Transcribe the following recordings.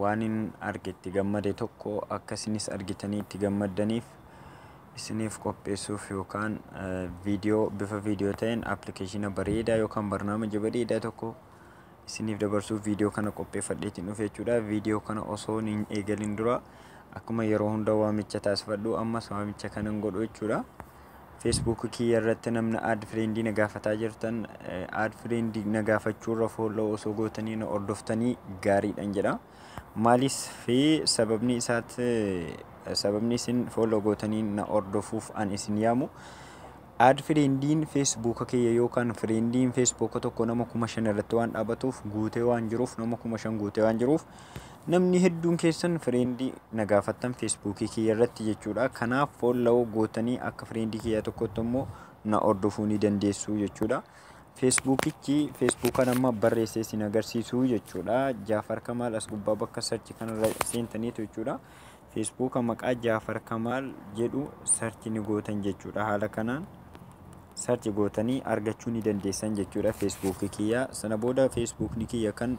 Waanin arge itti gammade tokko akka isinis argitanii itti gammaddaniif isiniif qopheessuuf yookaan viidiyoo bifa viidiyoo ta'een appilikeeshina bareedaa yookaan barnaamija bareedaa tokko isiniif dabarsuuf viidiyoo kana qopheeffadheetiin dhufe jechuudha. Viidiyoo kana osoo hin eegalin dura akkuma yeroo hunda waamicha taasifadhu ammas waamicha kanan godhu jechuudha. Facebook kiyya irratti namna add friend na gaafataa jirtan add friend na gaafachuu irra follow osoo gootanii na hordoftanii gaariidhan jedha. Maalis fi sababni isaat sababni isin follow gootanii na hordofuuf an isin yaamu. Add friendiin Facebook kiyya yookaan friendiin Facebook tokko nama kuma shan irratti waan dhaabatuuf guutee waan jiruuf nama kuma shan guutee waan jiruuf Namni hedduun keessan friend na gaafattan Facebook kiyya irratti jechuudha. Kanaaf follow gootanii akka friend kiyya tokkotti immoo na hordofuu ni dandeessu jechuudha. Facebookichi Facebookan amma barreessee isin agarsiisu jechuudha. Jaafar Kamaal as gubbaa bakka search kanarra seentaniitu jechuudha. Feesbuuka maqaa Jaafar Kamaal jedhu search ni gootan jechuudha. Haala kanaan search gootanii argachuu ni dandeessan jechuudha Feesbuukii kiyya. Sana booda Feesbuukni kiyya kan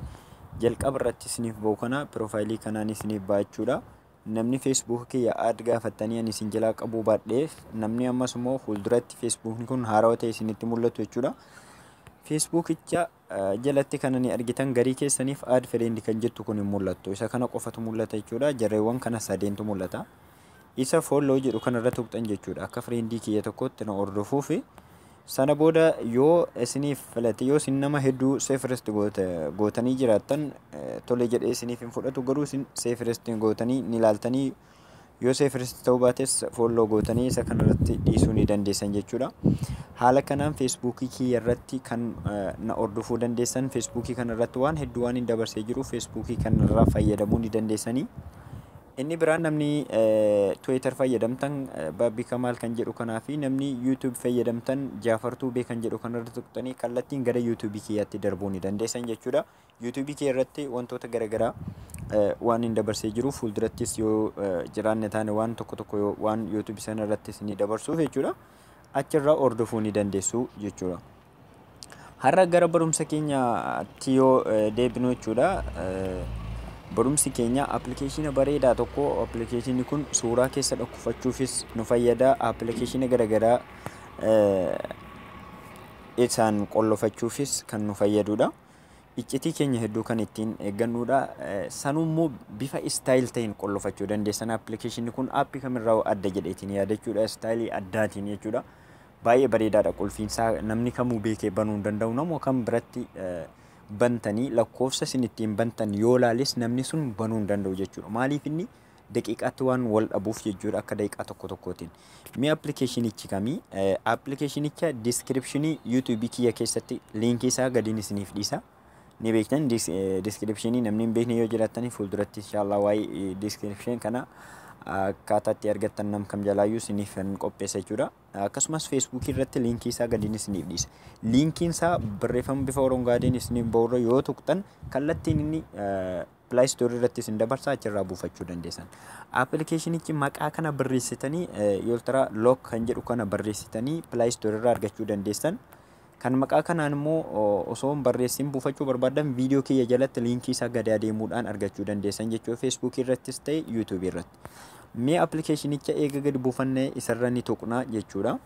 jalqaba irratti isiniif ba'u kana piroofaayilii kanaan isiniif ba'a jechuudha. Namni Feesbuukii kiyya aad gaafattanii ani isin jalaa qabuu baadheef namni ammas immoo fuulduratti Feesbuukni kun haarawa ta'e isinitti mul'atu jechuudha. Feesbuukicha jalatti kanani argitan garii keessaniif add friend kan jettu kun hin mul'attu isa kana qofatu mul'ata jechuudha jarreewwan kana sadeentu mul'ata isa follow jedhu kana irra tuqxan jechuudha akka friendii kiyya tokkotti na hordofuu fi sana booda yoo isiniif filate yoo isin nama hedduu seefirist gootanii jiraattan tole jedhee isiniif hin fudhatu garuu isin seefirist gootanii ni laaltanii Yoo seefirist ta'uu baates foolloo gootanii isa kanarratti dhiisuu ni dandeessan jechuudha. Haala kanaan feesbuukii kiyya irratti kan na hordofuu dandeessan feesbuukii kana irratti waan hedduu waan hin dabarsee jiru feesbuukii kanarraa fayyadamuu ni dandeessanii. Inni biraan namni Twitter fayyadamtan Baabbii Kamaal kan jedhu kanaa fi namni YouTube fayyadamtan Jaafar Tuubee kan jedhu kanarra tuqxanii kallattiin gara YouTube kiyyaatti darbuu ni dandeessan jechuudha. Yuutuubii kee irratti wantoota garagaraa waan hin dabarsee jiru fuuldurattis yoo jiraanne taane waan tokko tokko waan yuutuubii sana irratti isinii dabarsuuf jechuudha. Achirraa hordofuu ni dandeessu jechuudha. Har'a gara barumsa keenyaatti yoo deebinu jechuudha. Barumsi keenya appilikeeshina bareedaa tokko appilikeeshinni kun suuraa keessa dhokkufachuufis nu fayyada appilikeeshina garagaraa isaan qollofachuufis kan nu fayyadudha. iccitii keenya hedduu kan ittiin eeggannuudha. Sanuu immoo bifa istaayil ta'een qollofachuu dandeessan appilikeeshinni kun aappii kamirraa adda jedheetiin yaadachuudha istaayilii addaatiin jechuudha. Baay'ee bareedaadha qulfiinsaa namni kamuu beekee banuu hin danda'u namoo kan biratti bantanii lakkoofsa isin ittiin bantan yoo laalis namni sun banuu hin danda'u jechuudha. Maaliif inni daqiiqaatti waan wal dhabuuf jechuudha akka daqiiqaa tokko tokkootiin. Mee appilikeeshinichi kami? Appilikeeshinicha diskiripshinii yuutuubii kiyya keessatti liinkii isaa gadiin isiniif dhiisa. Ni beektan diskiripshinii namni hin beekne yoo jiraattan fuulduratti inshaallah waa'ee diskiripshin kana akkaataa itti argattan nam kam jalaayyuu isiniif kan qopheessa jechuudha. Akkasumas feesbuukii irratti liinkii isaa gadiin isiniif dhiisa. Liinkiin isaa barreeffama bifa orongaadeen isiniif ba'urra yoo tuqxan kallattiin inni Play Store irratti isin dabarsaa achirraa buufachuu dandeessan. Appilikeeshinichi maqaa kana barreessitanii Ultra Lock kan jedhu kana barreessitanii Play Store irraa argachuu dandeessan. Kan maqaa kanaan immoo osoo hin barreessin buufachuu barbaadan viidiyoo kiyya jalatti liinkii isaa gadi adeemuudhaan argachuu dandeessan jechuudha. Facebook irrattis ta'e YouTube irratti. Mee appilikeeshinicha eega gadi buufannee isarra ni tuqna jechuudha.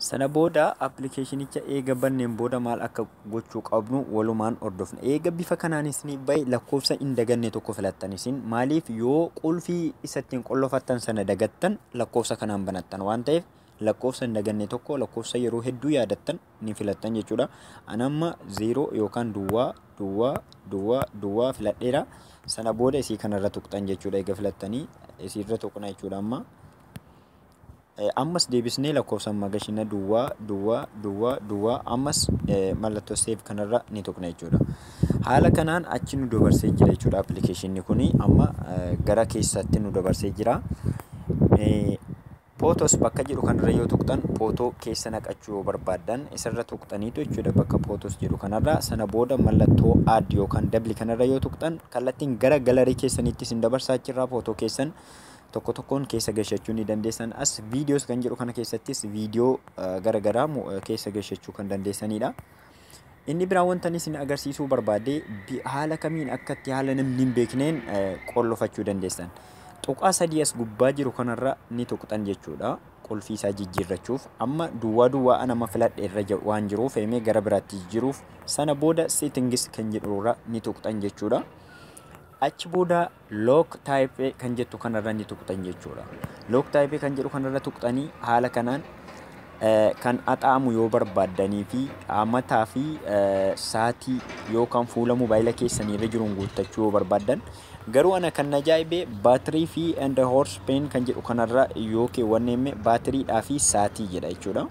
Sana booda appilikeeshinicha eega banneen booda maal akka gochuu qabnu walumaan hordofna. Eega bifa kanaan isiniif bahe lakkoofsa hin daganne tokko filattan isin maaliif yoo qulfii isa ittiin qollofattan sana dagattan lakkoofsa kanaan banattan waan ta'eef lakkoofsa hin daganne tokko lakkoofsa yeroo hedduu yaadattan ni filattan jechuudha. Anamma zeeroo yookaan duwwaa duwwaa duwwaa duwwaa filadheera. Sana booda isii kanarra tuqxan jechuudha eega filattanii isiirra tuqna jechuudha amma. Ammas deebisnee lakkoofsa magashina duwwaa duwwaa duwwaa duwwaa ammas mallattoo save kanarra ni tuqna jechuudha. Haala kanaan achi nu dabarsee jira jechuudha appilikeeshinni kun amma gara keessatti nu dabarsee jira. Pootos bakka jedhu kanarra yoo tuqxan pootoo keessa naqachuu yoo barbaaddan isarra tuqxaniitu jechuudha bakka pootos jedhu kanarra sana booda mallattoo add yookaan dabli kanarra yoo tuqxan kallattiin gara galarii keessaniitti isin dabarsaa achirraa pootoo keessan tokko tokkoon keessa gashachuu ni dandeessan as videos kan jedhu kana keessattis video gara garaa keessa gashachuu kan dandeessanidha. Inni biraa wanta isin agarsiisuu barbaade haala kamiin akkatti haala namni hin beekneen qollofachuu dandeessan. Tuqaa sadii as gubbaa jiru kanarra ni tuqxan jechuudha. Qulfii isaa jijjiirrachuuf amma duwwaa duwwaa anama filadhe irra waan jiruuf himee gara biraatti jijjiiruuf sana booda settings kan jedhurra ni tuqxan jechuudha. Achi booda Lock type kan jettu kanarra ni tuqxan jechuudha. Lock type kan jedhu kanarra tuqxanii haala kanaan kan axaamu yoo barbaaddanii fi amataa fi saatii yookaan fuula mobaayila keessanii irra jiruun guuttachuu yoo barbaaddan garuu ana kan ajaa'ibee baatirii fi and horse pen kan jedhu kanarra yoo keewwanneemme baatiriidhaa fi saatii jedha jechuudha.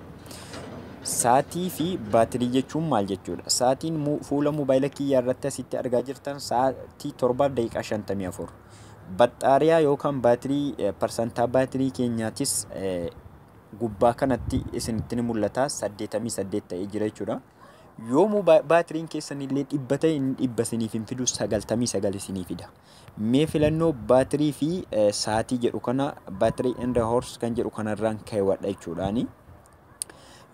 Saatii fi baatirii jechuun maal jechuudha? Saatiin fuula mobaayila kiyyaa irratti asitti argaa jirtan sa'aatii torbaaf daqiiqaa shantamii afur. Baxxaariyaa yookaan baatirii parsantaa baatirii keenyaatis gubbaa kanatti isinitti ni mul'ata saddeetamii saddeet ta'ee jira jechuudha. Yoomuu baatiriin keessan illee dhibba ta'e inni dhibba isiniif hin fidu sagaltamii sagal isinii fida. Mee filannoo battery fi saatii jedhu kana battery and horse kan jedhu kanarraan keewwadha jechuudhaani.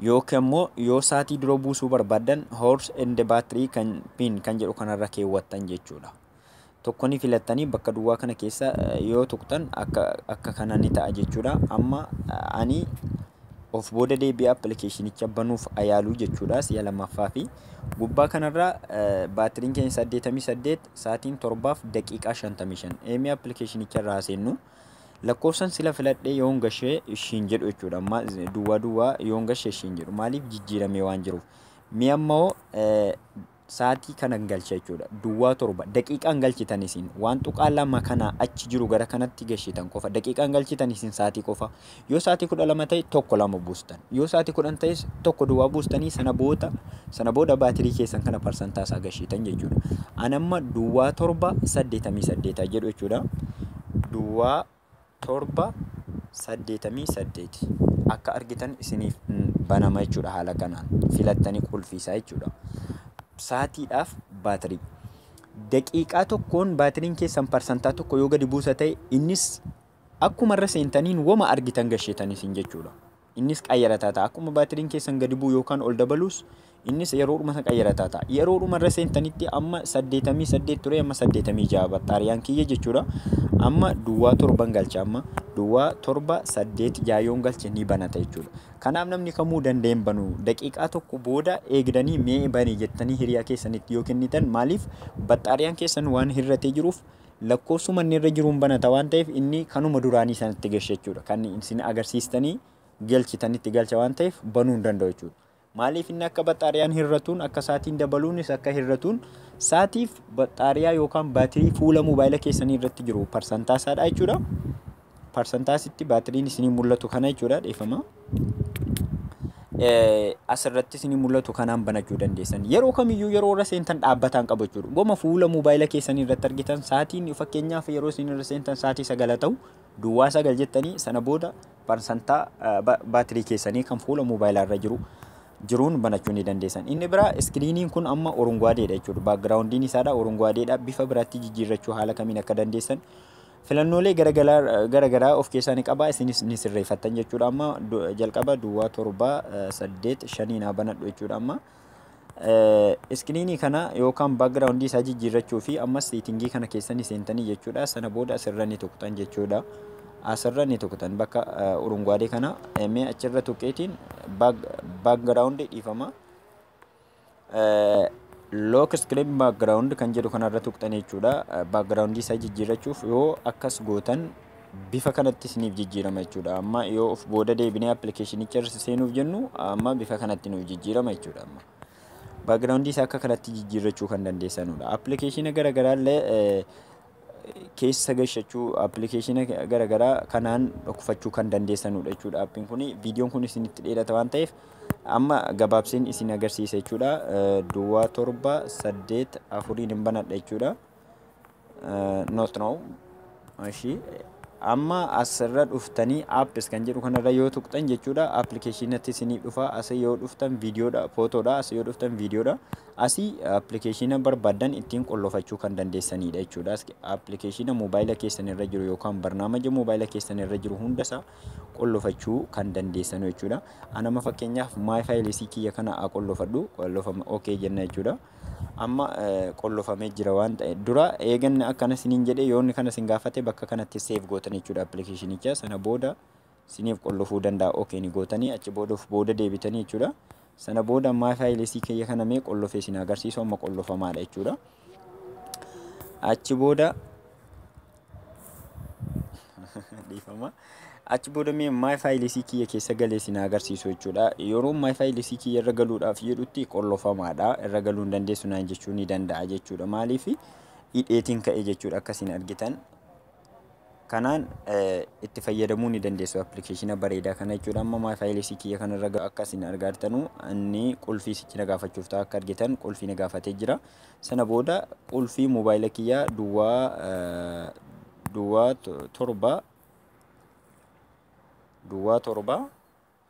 Yookiin ammoo yoo saatii dura buusuu barbaadan horse and battery kan pin kan jedhu kanarra keewwattan jechuudha. Tokko ni filattanii bakka duwwaa kana keessa yoo tuqxan akka akka kana ni ta'a jechuudha. Amma ani of booda deebi'ee appilikeeshinicha banuuf ayaaluu jechuudha si'a lammaffaa fi gubbaa kanarraa baatiriin keenya 88 Sa'atiin 7:55 AM appilikeeshinicha irraa seennu lakkoofsan sila filadhee yoon gashee ishiin jedhu jechuudha. Amma duwwaa duwwaa yoon gashee ishiin jedhu maaliif jijjiiramee waan jiruuf. Mee ammoo sa'atii kanan galcha jechuudha. Duwwaa torba daqiiqaan galchitan isin waan tuqaa lama kanaa achi jiru gara kanatti gashitan qofa daqiiqaan galchitan isin sa'atii qofa Yoo sa'aatii kudha lama ta'e tokko lama buustan. Yoo sa'aatii kudhan ta'es tokko duwwaa buustanii sana booda sana booda baatirii keessan kana parsantaa isaa gashiitan jechuudha. An amma duwwaa torba saddeetamii saddeeta jedhu jechuudha. Duwwaa torba saddeetamii saddeeti akka argitan isiniif banama jechuudha haala kanaan filattanii qulfiisaa jechuudha. Saatiidhaaf baatirii. Daqiiqaa tokkoon baatiriin keessan parsantaa tokko yoo gadi buusa ta'e innis Akkuma irra seentaniin woma argitan gashetan isin jechuudha. Innis qayyarataa ta'a. Akkuma baatiriin keessan gadi bu'u yookaan ol dabaluus innis yeroodhuma sana qayyarataa ta'a. Yeroodhuma irra seentanitti amma 88 ture amma 86 battaariyaan kiyya jechuudha. Amma duwwaa torban galcha amma duwwaa torba saddeet jaayoon galche ni banata jechuudha. Kanaaf namni kamuu danda'een banu daqiiqaa tokko booda eegdanii mee bani jettanii hiriyaa keessanitti yoo kennitan maaliif battaariyaan keessan waan hirratee jiruuf lakkoofsuma inni irra jiruun banata waan ta'eef inni kanuma duraanii sanatti galcha jechuudha. Kan isin agarsiistanii galchitan itti galcha waan ta'eef banuu hin danda'u jechuudha. Maaliif inni akka baxxaariyaan hir'atuun akka saatiin dabaluunis akka hir'atuun saatiif baxxaariyaa yookaan baatirii fuula moobaayila keessanii irratti jiru parsantaa isaadha jechuudha. parsantaa asitti baatiriin isinii mul'atu kana jechuudha dhiifama. Asirratti isinii mul'atu kanaan banachuu dandeessan. Yeroo kamiyyuu yeroo irra seentan dhaabbataan qabu jechuudha. Goma fuula moobaayila keessanii irratti argitan sa'aatiin fakkeenyaaf yeroo isin irra seentan sa'aatii sagala ta'u duwwaa sagal jettanii sana booda parsantaa baatirii keessanii kan fuula moobaayilaa irra jiru jiruun banachuu ni dandeessan. Inni biraa iskiriiniin kun amma orunguwaadeedha jechuudha. Baakgiraawundiin isaadha orunguwaadeedha. Bifa biraatti jijjiirrachuu haala kamiin akka dandeessan Filannoolee gara garaa of keessaa ni qaba. Isinis ni sirreeffattan jechuudha amma. Jalqaba duwwaa torba saddeet shanii naa banadhu jechuudha amma. Iskiriinii kana yookaan baakgiraawundii isaa jijjiirrachuu fi ammas seetingii kana keessa ni seentanii jechuudha. Sana booda asirra ni tuqxan jechuudha. Asirra ni tuqxan bakka urunguwaadee kana mee achirra tuqeetiin baakgiraawundii dhiifama. lock screen background kan jedhu kanarra tuqxanii jechuudha background isaa jijjiirrachuuf yoo akkas gootan bifa kanatti isiniif jijjiirama jechuudha amma yoo of booda deebinee appilikeeshinicha irra seenuuf jennu amma bifa kanatti nuuf jijjiirama jechuudha amma background isaa akka kanatti jijjiirrachuu kan dandeessanudha appilikeeshina garagaraa illee keessa gashachuu appilikeeshina garagaraa kanaan dhokfachuu kan dandeessanudha jechuudha appiin kun viidiyoon kun isinitti dheerata waan ta'eef amma gabaabseen isin agarsiisa jechuudha duwwaa torba saddeet afuriin hin banadha jechuudha not now ashii amma asirra dhuftanii apps kan jedhu kanarra yoo tuqxan jechuudha appilikeeshinatti isinii dhufa asii yoo dhuftan viidiyoodha footoodha asii yoo dhuftan viidiyoodha Asii appilikeeshiina barbaaddan ittiin qollofachuu kan dandeessaniidha jechuudha. Appilikeeshiina moobaayila keessan irra jiru yookaan barnaamaja moobaayila keessan irra jiru hundasaa qollofachuu kan dandeessanu jechuudha. Anama fakkeenyaaf maay faayilisii kiyya kana haa qollofadhu qollofama ok jenna jechuudha. Amma qollofamee jira waan ta'e dura eeganna akkana siniin jedhe yoonni kana sin gaafate bakka kanatti seef gootan jechuudha appilikeeshinicha sana booda siniif qollofuu danda'a ok ni gootanii achi booda of booda deebitanii jechuudha sana booda my files kiyya kana mee qollofee sin agarsiisu amma qollofamaadha jechuudha achi booda dhiifama achi booda mee my files kiyya keessa galee sin agarsiisu jechuudha yeroo my files kiyya irra galuudhaaf jedhutti qollofamaadha irra galuu hin dandeessu naan jechuu ni danda'a jechuudha maaliif hidheetiin ka'e jechuudha akkasiin argitan Kanaan itti fayyadamuu ni dandeessu application bareedaa kana jechuudha. Amma my files kiyya kanarra ga- akka isin argaartanu inni qulfii sichi na gaafachuuf ta'a akka argitan qulfii na gaafatee jira. Sana booda qulfii mobaayila kiyya duwwaa eh, duwwaa to- torba duwwaa torba